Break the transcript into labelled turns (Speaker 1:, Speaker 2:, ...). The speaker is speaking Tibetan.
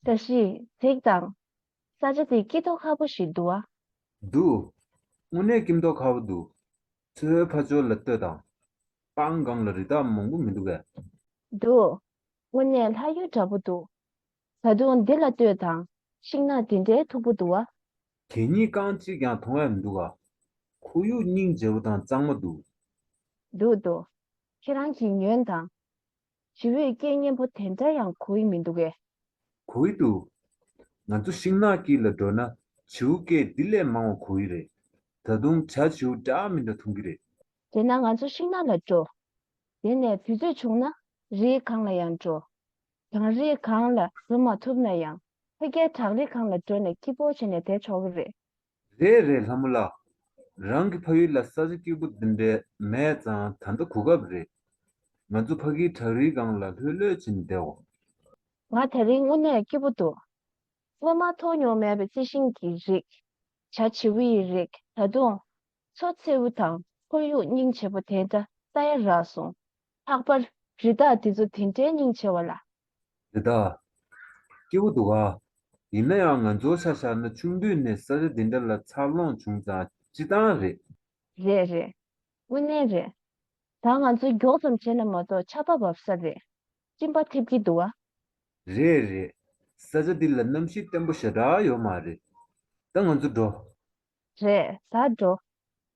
Speaker 1: བཀྲ་ཤིས་གཟིགས་དང། ས་ཆ་འདི་སྐྱིད་ཐོག་ཁ་པོ་ཞིག་འདུག་ཨ། འདུག།
Speaker 2: དངོས་གནས་སྐྱིམ་ཐོག་ཁ་བོ་འདུག། ཚེ་ཧོའི་ཕ་ཇོ་ལ་ལྟོས་དང། པང་སྒང་ལ་རི་དྭགས་མང་པོ་མི་འདུག་པས། འདུག།
Speaker 1: དངོས་གནས་ལྷ་ཡུལ་འདྲ་པོ་འདུག། བཟའ་བཏུང་འདི་ལ་ལྟོས་དང། ཤིང་ནགས་འདི་འདྲའི་མཐུག་པོ་འདུག་ཨ། དེ་གཉིས་རྐང་
Speaker 2: གཅིག་ཀྱང་མཐོང་བས་མི་འདུག་ཨ། ཁོར་ཡུག་སྙིང་རྗེ་བོ་དང་གཙང་མ་འདུག། འདུག་
Speaker 1: འདུག། ཁྱེད་རང་གིས་ཉོན་དང། ཇི་འོས་སྐད་སྙན་པོ་དེ་འདྲ་ཡང་གོ་ཡི་མི་འདུག་གས། གོ་ཡི་འདུག།
Speaker 2: ང་ཚོ་ཤིང་ནགས་དཀྱིལ་ལ་འགྲོ་ན་བྱིའུ་སྐད་འདི་ལས་མང་བ་གོ་ཡི་རེད། ད་དུང་བྱ་བྱིའུ་འདྲ་མི་འདྲ་མཐོང་གི་རེད། དེས་ན་ང་ཚོ་
Speaker 1: ཤིང་ནགས་ལ་འགྲོ། དེ་ནས་དུས་ཚོད་བྱུང་ན་རིའི་གངས་ལ་ཡང་འགྲོ། གངས་རི་གང་ལ་འགྲོ་མ་ཐུབ་ན་ཡང་ཕ་རྒྱལ་བྲག་རི་གང་ལ་འགྲོ་ནས་སྐྱིད་པོ་བྱས་ནས་བསྡད་ཆོག་གི་རེད། རེད་རེད་
Speaker 2: ལྷ་མོ་ལགས། རང་གི་ཕ་ཡུལ་ལ་ས་ཆ་སྐྱིད་པོ་འདི་འདྲའི་མེད་ཙང་ད་ལྟ་གོ་སྐབས་རེད། ང་ཚོ་ཕ་གིའི་བྲག་རི་གང་ལ་ལྷོད་ལྷོད་བྱས་ནས་བསྡད་འོང། ང་དེ་
Speaker 1: རིང་དངོས་གནས་སྐྱིད་པོ་འདུག། སྔོན་མ་མཐོང་མྱོང་མེད་པའི་རྩི་ཤིང་གི་རིགས། བྱ་བྱིའུ་ཡི་རིགས་ད་དུང། མཚོ་མཚེའུ་དང་ཁོར་ཡུག་སྙིང་རྗེ་པོ་དེ་འདྲ་ལྟ་ཡ་རག་སོང། ལྷག་པར་རི་དྭགས་དེ་ཚོ་དེ་འདྲའི་སྙིང་ཆེ་བ་ལ། རི་དྭགས།
Speaker 2: སྐྱེ་བོ་འདུག་ཨ། ཡིན་ན་ཡང་ང་ཚོ་ཤ་ཤ་ན་ཆུང་དུས་ནས་ས་རི་འདི་འདྲ་ལ་འཚར་ལོངས་བྱུང་ཙང་སྤྱི་བཏང་རེད། རེད་རེད།
Speaker 1: དངོས་གནས་རེད། ད་ང་ཚོ་མགྱོགས་ཙམ་བྱས་ན་མ་གཏོགས་ཆར་པ་བབས་ས་རེད། གཅིན་པ་འཐེབ་ཀྱི་འདུག་ཨ། རེད་
Speaker 2: རེད། ས་ཆ་འདི་ལ་གནམ་གཤིས་བརྟན་པོ་ཞེ་དྲག་ཡོད་མ་རེད། ད་ང་ཚོ་འགྲོ། རེད་ད་འགྲོ།